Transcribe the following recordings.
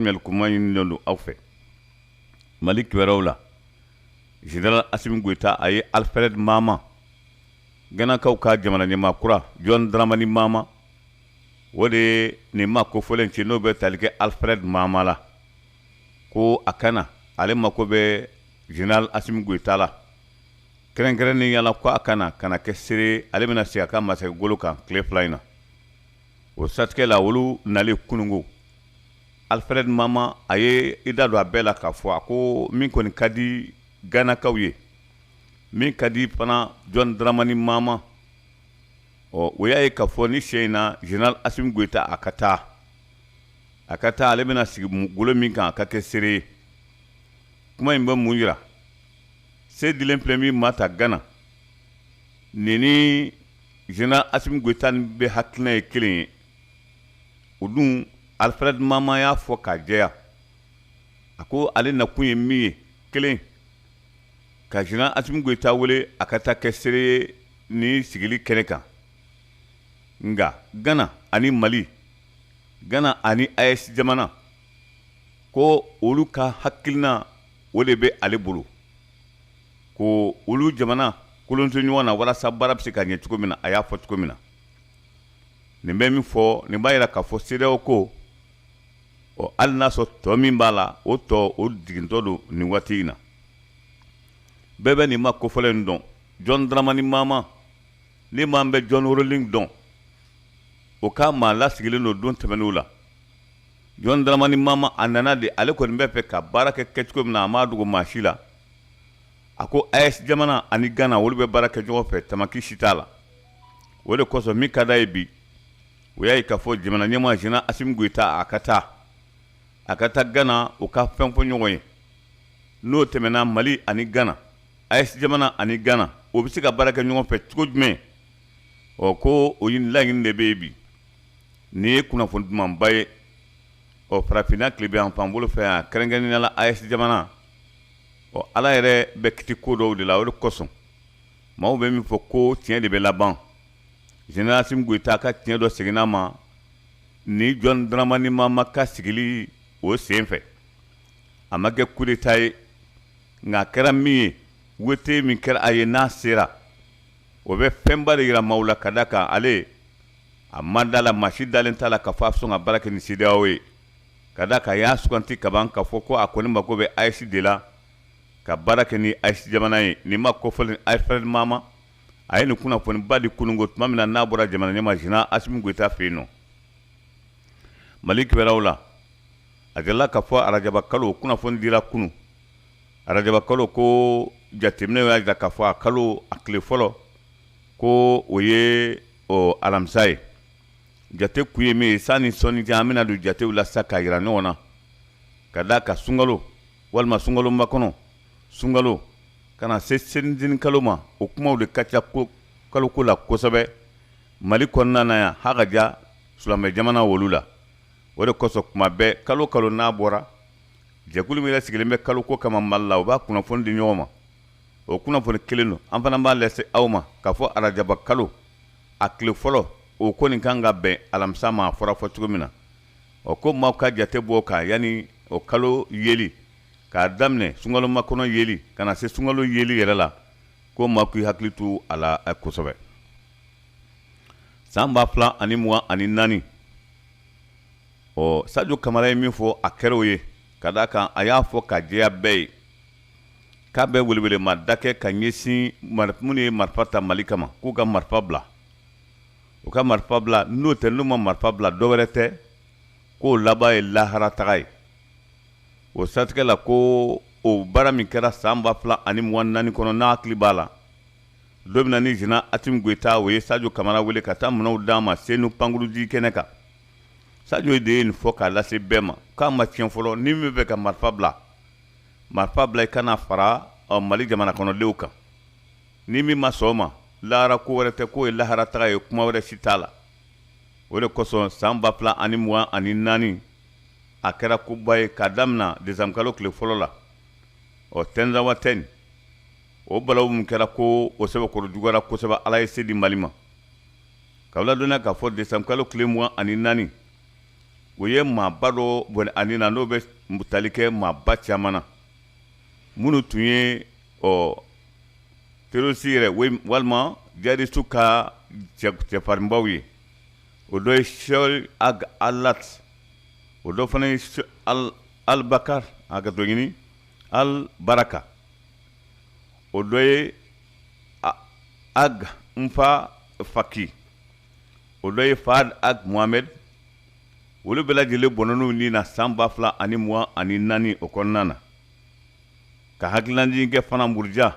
Mali kuma ɲini don aw fɛ mali kibaruw la general asimi goyita a ye alifred mama ganakaw ka jamana ɲɛmaa kura jɔn dramani mama o de nin ma kofɔlen ci n'o bɛ tali kɛ alifred mama la ko a ka na ale mako bɛ general asimi goyita la kɛrɛnkɛrɛnnenya la ko a ka na ka na kɛ seere ale bɛna sigi a ka masakɛ golo kan tile fila in na o siratigɛ la olu nalen kununko alifred mama a ye i da don a bɛɛ la k'a fɔ a ko min kɔni ka di ganakaw ye min ka di fana jɔn dramani mama ɔ o y'a ye ka fɔ nin sen in na general asimi goyita a ka taa a ka taa ale bɛna sigi golo min kan a ka kɛ seere ye kuma in bɛ mun yira se dilen filɛ min ma ta gana nin ni General asimi goyita ni bɛɛ hakilina ye kelen ye o dun alifred mama y'a fɔ k'a jɛya a ko ale nakun ye min ye kelen ka general asimi goyita wele a ka taa kɛ seere ye nin sigili kɛnɛ kan nka gana ani mali g ani a ye jamana ko olu ka hakilina o de bɛ ale bolo ko olu jamana kolonso ɲɔgɔn na walasa baara bɛ se ka ɲɛ cogo min na a y'a fɔ cogo min na nin bɛ min fɔ nin b'a yira k'a fɔ cedeao ko ɔ hali n'a sɔrɔ tɔ min b'a la o tɔ o jigintɔ don nin waati in na bɛɛ bɛ nin ma kofɔlen in dɔn jɔn dramani mama ni maa min bɛ jɔn rawlings dɔn o ka maa lasigilen don don tɛmɛnenw la jɔn dramani mama a nana de ale kɔni bɛ fɛ ka baara kɛ kɛcogo min na a m'a dogo maa si la a ko aes jamana ani gana olu bɛ baara kɛ ɲɔgɔn fɛ tamaki si t'a la o de kosɔn min ka di a ye bi o y'a ye k'a fɔ jamana ɲɛmaa general asimi goyita a ka taa a ka taa gana o ka fɛn fɔ ɲɔgɔn ye n'o tɛmɛna mali ani gana aes jamana ani gana o bɛ se ka baara kɛ ɲɔgɔn fɛ cogo jumɛn ɔ ko o ɲini laɲini de bɛ yen bi nin ye kunnafoni dumanba ye ɔ farafinna tilebinyanfan bolo fɛ yan kɛrɛnkɛrɛnnenya la aes jamana ɔ ala yɛrɛ bɛ kiti ko dɔw de la o de kosɔn maaw bɛ min fɔ ko tiɲɛ de bɛ laban general asimi goyita ka tiɲɛ dɔ seginna ma ni jɔn dramani mama ka sigili o sen fɛ a ma kɛ kudeta ye nka a kɛra min ye wete min kɛra a ye n'a sera o bɛ fɛnba de yira maaw la ka da kan ale a ma da la maa si dalen t'a la k'a fɔ a bɛ sɔn ka baara kɛ ni cedeao ye Ka d'a kan a y'a suganti kaban ka fɔ ko a kɔni mako bɛ AES de la ka baara kɛ ni AES jamana ye nin maa kofɔlen Alfred Mahama a ye nin kunnafoniba di kunun ko tuma min na n'a bɔra jamana ɲɛmaa General Assimi Goïta fɛ yen nɔ mali kibaruw la a delila ka fɔ arajaba kalo kunnafoni dira kunun arajaba kalo ko jateminɛ y'a jira ka fɔ a kalo a tile fɔlɔ ko o ye alamisa ye jate kun ye min ye sanni sɔɔni cɛ an bɛna don jatew la sa k'a jira ɲɔgɔn na ka d'a kan sunkalo walima sunkalo makɔnɔ sunkalo ka na se selincinin kalo ma o kumaw de ka ca ko kaloko la kosɛbɛ mali kɔnɔna na yan ha ka ja silamɛ jamana wolu la o de kosɔn kuma bɛɛ kalo kalo n'a bɔra jɛkulu min yɛrɛ sigilen bɛ kaloko kama mali la u b'a kunnafoni di ɲɔgɔn ma o kunnafoni kelen don an fana b'a lase aw ma k'a fɔ arajaba kalo a tile fɔlɔ o kɔni kan ka bɛn alamisa ma a fɔra fɔ cogo min na ɔ ko maaw ka jate bɔ kan yanni o kalo yeli k'a daminɛ sunkalo makɔnɔ yeli ka na se sunkalo yeli yɛrɛ la ko maa k'i hakili to a la eh, kosɛbɛ san ba fila ani mugan ani naani ɔ sajo kamara ye min fɔ a kɛr'o ye ka d'a kan a y'a fɔ ka jɛya bɛɛ ye K'a bɛ welewelema da kɛ ka ɲɛsin minnu ye marifa ta mali kama k'u ka marifa bila u ka marifa bila n'o tɛ n'u ma marifa bila dɔ wɛrɛ tɛ k'o laban ye lahara taga ye o siratigɛ la ko o baara min kɛra san ba fila ani mugan ni naani kɔnɔ n'a hakili b'a la don min na ni General Assimi Goïta o ye sajo kamara wele ka taa minɛnw d'a ma senu pankurunjigi kɛnɛ kan sajo de ye nin fɔ k'a lase bɛɛ ma k'a ma tiɲɛ fɔlɔ ni min b'a fɛ ka marifa bila marifa bila i ka na fara ɔ, mali jamana kɔnɔdenw kan ni min ma sɔn o ma lahara ko wɛrɛ tɛ k'o ye lahara taga ye kuma wɛrɛ si t'a la o de kosɔn san ba fila ani mugan ani naani a kɛra koba ye k'a damina desanburu kalo tile fɔlɔ la ɔ tɛnzawatɛni o balawu min kɛra ko o sɛbɛkɔrɔ juguyara kosɛbɛ ala ye se di mali ma k'aw ladɔnniya k'a fɔ desanburu kalo tile mugan ani naani o ye maaba dɔ bɔnɛ a ni na n'o bɛ tali kɛ maaba caman na minnu tun ye ɔ terorisi yɛrɛ walima jihadisiw ka cɛfarinbaw ye o dɔ ye sɛki ag alati o dɔ fana alibakari hakɛto ɲini alibaraka o dɔ ye ag nfa faki o dɔ ye fahad ag mohamed olu bɛɛ lajɛlen bɔnɛn'u ni na san ba fila ani mugan ani naani o kɔnɔna na ka hakililajigin kɛ fana muruja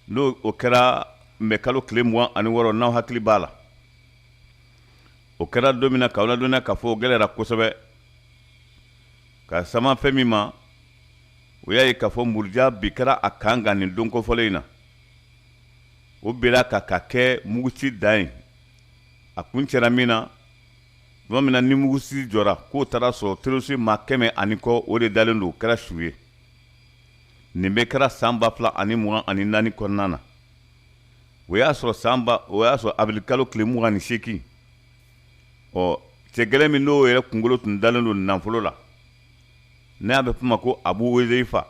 n'o o kɛra mɛ kalo tile mugan ani wɔɔrɔ n'aw hakili b'a la o kɛra don min na k'aw ladɔnniya k'a fɔ o gɛlɛyara kosɛbɛ ka sama fɛn min ma o y'a ye k'a fɔ muruja bin kɛra a kan kan nin don kofɔlen in na o bela ka ka kɛ muguci dan ye a kuncɛra min na tuma min na ni muguci jɔra k'o taara sɔrɔ terɔrisi maa kɛmɛ ani kɔ o de dalen don kɛra su ye nin bɛɛ kɛra san ba fila ani mugan ani naani kɔnɔna na o y'a sɔrɔ san o y'a sɔrɔ awirili kalo tile mugan ni seegin ɔ cɛ gɛlɛn min n'o yɛrɛ kunkolo tun dalen don nafolo la n'a bɛ fɔ a ma ko abu huzeifa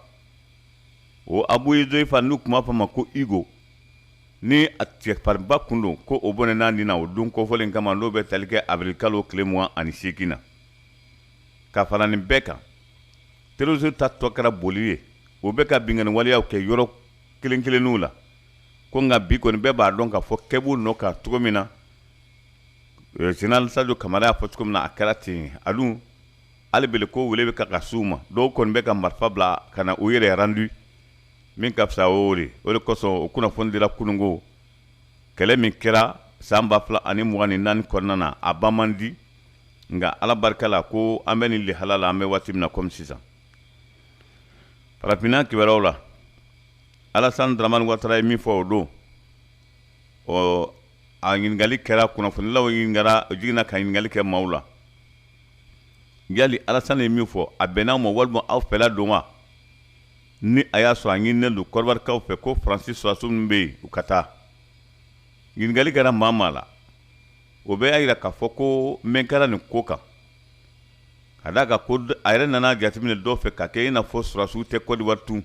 o abu huzeifa n'u tun b'a fɔ ma ko higo ni a cɛfarinba kun don ko o bɔnɛn'a ni na o don kofɔlen kama n'o bɛ tali kɛ awirilikalo tile mugan ani seegin na ka fara nin bɛɛ kan terroristes ta tɔ kɛra boli ye o bɛ ka binkanni waleyaw kɛ yɔrɔ kelen kelenninw la ko nka bi kɔni bɛɛ b'a dɔn k'a fɔ kɛ b'u nɔ kan cogo min na général sadio kamara y'a fɔ cogo min na a kɛra ten a dun hali bele ko wele bɛ ka ka s'u ma dɔw kɔni bɛ ka marifa bila ka na u yɛrɛ rendu min ka fisa o de o de kosɔn o kunnafoni dira kunun ko kɛlɛ min kɛra san ba fila ani mugan ni naani kɔnɔna na a ban man di nka ala barika la ko an bɛ nin lihala la an bɛ waati min na kɔmi sisan farafinna kibaruyaw la alasan dramani watara ye min fɔ o don ɔ a ɲininkali kɛra kunnafonilaw ɲininkara jiginna ka ɲininkali kɛ maaw la yali alasani ye min fɔ a bɛnn'aw ma walima aw fɛla don wa ni a y'a sɔrɔ a ɲininen don kɔdiwarikaw fɛ ko faransi sɔrɔdasiw minnu bɛ yen u ka taa ɲininkali kɛra maa maa la o bɛɛ y'a jira k'a fɔ ko mɛɛn kɛra nin ko kan ka d'a kan ko a yɛrɛ nana jateminɛ dɔw fɛ ka kɛ i n'a fɔ sɔrɔdasiw tɛ kɔdiwari tun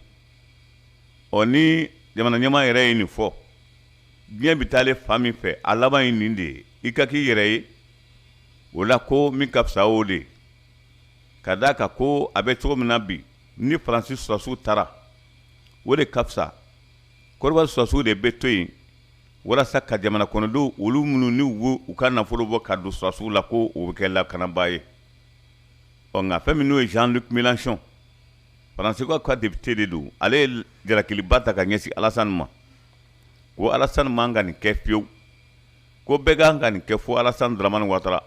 ɔ ni jamana ɲɛmaa yɛrɛ ye nin fɔ diɲɛ bɛ taale fan min fɛ a laban ye nin de ye i ka k'i yɛrɛ ye o la ko min ka fisa o de ka d'a kan ko a bɛ cogo min na bi ni faransi sɔrɔdasiw taara o de ka fisa kɔdiwari sɔrɔdasiw de bɛ to yen walasa ka jamana kɔnɔdenw olu minnu ni wo u ka nafolo bɔ ka don sɔrɔdasiw la ko o bɛ kɛ lakanabaa ye ɔ nka fɛn min n'o ye jean luc mélenchon faransi ka ka depite de don ale ye jalakiliba ta ka ɲɛsin alasani ma ko alasan man ka nin kɛ fiyewu ko bɛɛ ka kan ka nin kɛ fo alasan dramani watara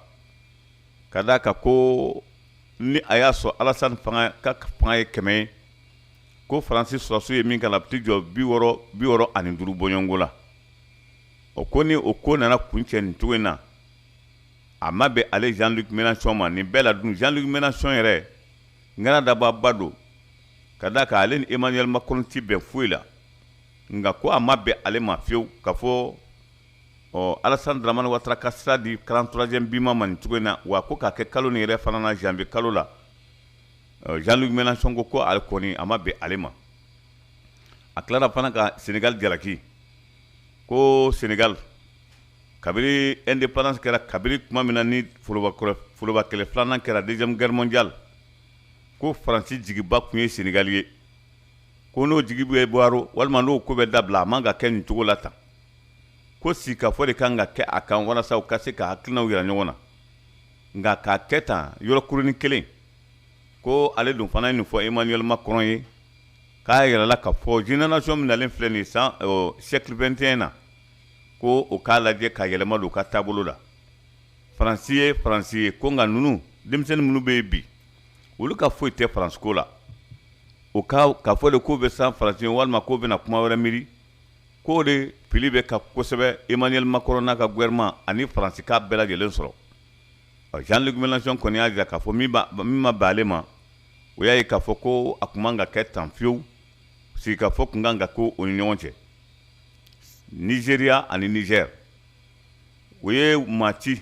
ka d'a kan ko ni a y'a sɔrɔ alasan ka fanga ye kɛmɛ ye ko faransi sɔrɔdasiw ye min k'a la a bɛ t'i jɔ bi wɔɔrɔ ani duuru bɔɲɔgɔnko la o ko ni o ko nana kuncɛ nin cogo in na a ma bɛn ale jean luc mélenchon ma nin bɛɛ la dun jean luc mélenchon yɛrɛ ŋana dababa don ka d'a kan ale ni emmanuel macron ti bɛn foyi la nka ko a ma bɛn ale ma fiyewu ka fɔ ɔ alasan dramani watara ka sira di quarante troisième bima ma nin cogo in na wa ko k'a kɛ kalo nin yɛrɛ fana na janvier kalo la jean luc mélenchon ko ko ale kɔni a ma bɛn ale ma a tilara fana ka senegal jalaki ko senegal kabiri indépendance kɛra kabiri tuma min na ni foroba kɛlɛ filanan kɛra deuxième guerre mondiale ko faransi jigiba tun ye senegal ye ko n'o jigi bɛ waaro walima n'o ko bɛ dabila a man ka kɛ nin cogo la tan ko sigikafɔ de kan ka kɛ a kan walasa u ka se ka hakilinaw yira ɲɔgɔn na nka k'a kɛ tan yɔrɔ kurunin kelen ko ale dun fana ye nin fɔ emmanuel macron ye k'a y'a yira a la ka fɔ génération min nalen filɛ nin san siècle 21 na ko o k'a lajɛ ka yɛlɛma don u ka taabolo la faransi ye faransi ye ko nka ninnu denmisɛnnin minnu bɛ yen bi olu ka foyi tɛ faransi ko la o ka ka fɔ de k'o bɛ san faransi walima k'o bɛna kuma wɛrɛ miiri k'o de fili bɛ ka kosɛbɛ emmanuel macron n'a ka gouvernement ani faransikaw bɛɛ lajɛlen sɔrɔ jean luc mélenchon kɔni y'a jira k'a fɔ min ma bɛn ale ma o y'a ye k'a fɔ ko a tun man ka kɛ tan fiyewu sigikafɔ tun kan ka kɛ o ni ɲɔgɔn cɛ nizeriya ani nizɛri o ye maa ci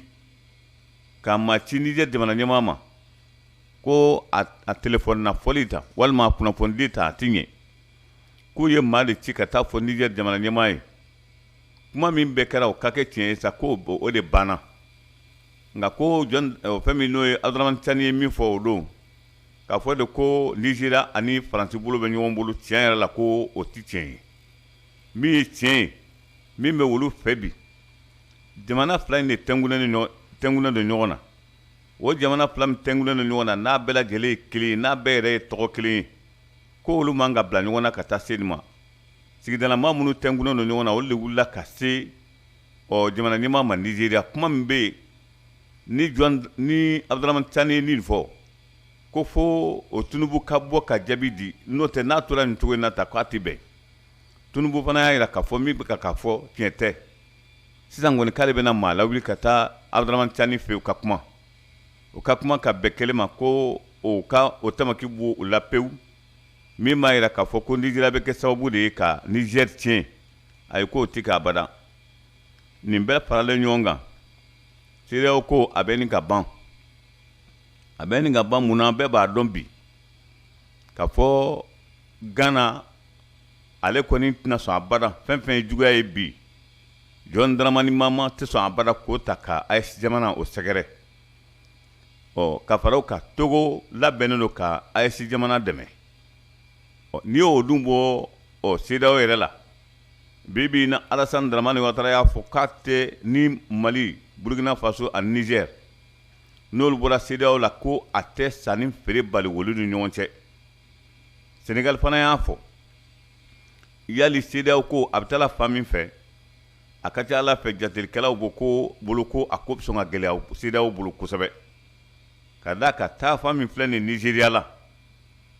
ka maa ci nijɛ jamana ɲɛmaa ma ko a telefɔni na fɔli ta walima a kunnafonidi ta a tɛ ɲɛ k'u ye maa de ci ka taa fɔ nijɛ jamana ɲɛmaa ye kuma min bɛɛ kɛra o ka kɛ tiɲɛ ye sa ko o de banna nka ko fɛn min n'o ye abdramani caani ye min fɔ o don k'a fɔ de ko nizeriya ani faransi bolo bɛ ɲɔgɔn bolo tiɲɛ yɛrɛ la ko o tɛ tiɲɛ ye min ye tiɲɛ ye min bɛ olu fɛ bi jamana fila in de tɛnkunnen don ɲɔgɔn na o jamana fila min tɛnkunnen don ɲɔgɔn na n'a bɛɛ lajɛlen ye kelen ye n'a bɛɛ yɛrɛ ye tɔgɔ kelen ye ko olu man ka bila ɲɔgɔn na ka taa se nin ma sigidalama minnu tɛnkunnen don ɲɔgɔn na olu de wulila ka se ɔ jamana ɲɛmaa ma nizeriya kuma min bɛ yen ni jɔn ni abdramani caani ye nin fɔ ko fo o tinubu ka bɔ ka jaabi di n'o tɛ n'a tora nin cogo in na tan k'a tɛ bɛn tinubu fana y'a jira k'a fɔ min bɛ ka k'a fɔ tiɲɛ tɛ sisan kɔni k'ale bɛna maa lawuli ka taa abuduramani cani fɛ u ka kuma u ka kuma ka bɛn kelen ma ko o ka o tamaki bɔ o la pewu min b'a jira k'a fɔ ko nizeriya bɛ kɛ sababu de ye ka nizɛri tiɲɛ ayi k'o tɛ kɛ abada nin bɛɛ faralen ɲɔgɔn kan sedeyawo ko a bɛ ɲini ka ban a bɛ ɲini ka ban mun na bɛɛ b'a dɔn bi k'a fɔ gana ale kɔni tɛna sɔn abada fɛn fɛn ye juguya ye bi jɔn daramani mahama tɛ sɔn abada k'o ta ka aes jamanaw sɛgɛrɛ ɔ ka fara o kan togo labɛnnen don ka aes jamana dɛmɛ ɔ n'i y'o dun bɔ ɔ sedeyawo yɛrɛ la bi bi na alasan daramani watara y'a fɔ k'a tɛ ni mali burkina faso ani nizɛr n'olu bɔra sedeyawo la ko a tɛ sanni feere bali olu ni ɲɔgɔn cɛ senegali fana y'a fɔ yali sedeyawo ko a bɛ taa fan min fɛ a ka ca ala fɛ jatelikɛlaw ko ko bolo ko a ko bɛ sɔn ka gɛlɛya sedeyawo bolo kosɛbɛ ka d'a kan taafan min filɛ nin nizeriya la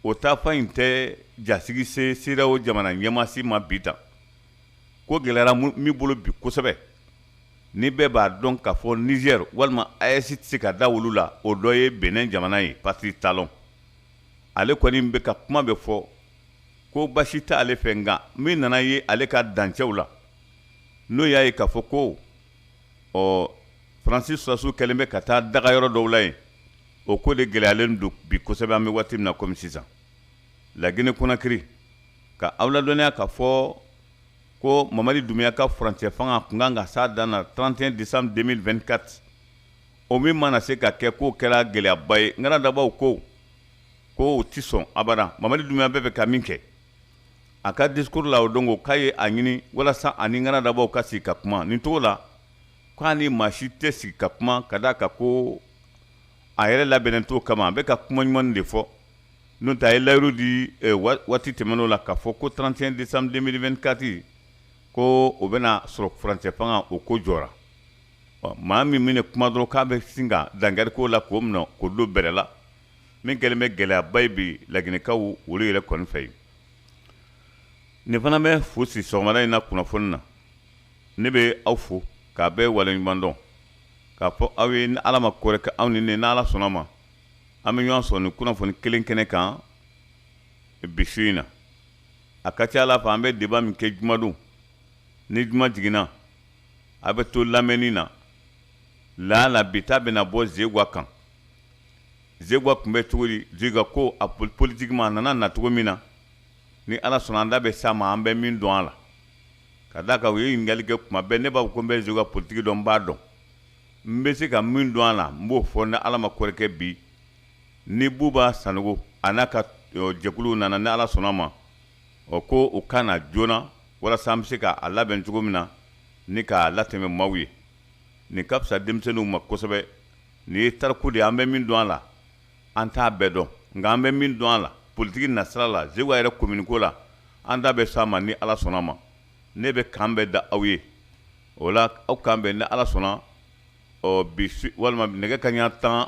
o taafan in tɛ jasigi se sedeyawo jamana ɲɛmaa si ma bi ta ko gɛlɛyara min bolo bi kosɛbɛ ni bɛɛ b'a dɔn k'a fɔ niger walima aes tɛ se ka da olu la o dɔ ye benin jamana ye patrice talon ale kɔni bɛ ka kuma bɛ fɔ ko basi tɛ ale fɛ nka min nana ye ale ka dancɛw la n'o y'a ye k'a fɔ ko ɔ faransi sɔrasiw kɛlen bɛ ka taa dagayɔrɔ dɔw la yen o ko de gɛlɛyalen don bi kosɛbɛ an bɛ waati min na komi sisan lagine konakiri ka aw ladɔnniya k'a fɔ ko mamadi dumbuya ka furancɛ fanga kun ka kan ka s'a dan na 31 décembre 2024 o min ma na se ka kɛ k'o kɛra gɛlɛyaba ye ŋana dabaw ko ko o tɛ sɔn abada mamadi dumbuya bɛ fɛ ka min kɛ a ka discours la o don ko k'a ye a ɲini walasa a ni ŋana dabaw ka sigi ka kuma nin cogo la k'a ni maa si tɛ sigi ka kuma ka d'a kan ko a yɛrɛ labɛnnen t'o kama a bɛ ka kuma ɲuman de fɔ n'o tɛ a ye layiru di eh, waati tɛmɛn'o la k'a fɔ ko 31 décembre 2024 ko o bɛna sɔrɔ furancɛ fanga o ko jɔra maa min mana kuma dɔrɔn k'a bɛ sin ka dankari k'o la k'o minɛ k'o don bɛrɛ la min kɛlen bɛ gɛlɛyaba ye bi laginɛkaw olu yɛrɛ kɔni fɛ yen nin fana bɛ fu siri sɔgɔmada in na kunnafoni na ne bɛ aw fo k'a bɛɛ waleɲuman dɔn k'a fɔ aw ye ni ala ma ko wɛrɛ kɛ aw ni ne n'ala sɔnn'a ma an bɛ ɲɔgɔn sɔrɔ nin kunnafoni kelen kɛnɛ kan bi su in na a ka ca ala fɛ an bɛ débat min kɛ jumadon ni juma jiginna a bɛ to lamɛnni na laala bi ta bɛna bɔ zewa kan zegwa tun bɛ cogo di zegwa ko a politikiman a nana na cogo min na ni ala sɔnna an da bɛ s'a ma an bɛ min dɔn a la ka da a kan u ye ɲininkali kɛ kuma bɛɛ ne b'a fɔ ko n bɛ zegwa politiki dɔn n b'a dɔn n bɛ se ka min dɔn a la n b'o fɔ ni ala ma ko wɛrɛ kɛ bi ni buba sanogo a n'a ka jɛkuluw nana ni ala sɔnna ma ɔ ko u ka na joona walasa an bɛ se k'a labɛn cogo min na ni k'a latɛmɛ maaw ye nin ka fisa denmisɛnninw ma kosɛbɛ nin ye tariku de ye an bɛ min dɔn a la an t'a bɛɛ dɔn nka an bɛ min dɔn a la politiki nasira la zegwa yɛrɛ komini ko la an da bɛ s'a ma ni ala sɔnna ma ne bɛ kan bɛɛ da aw ye o la aw k'an bɛn ni ala sɔnna ɔ bi walima nɛgɛ kanɲɛ tan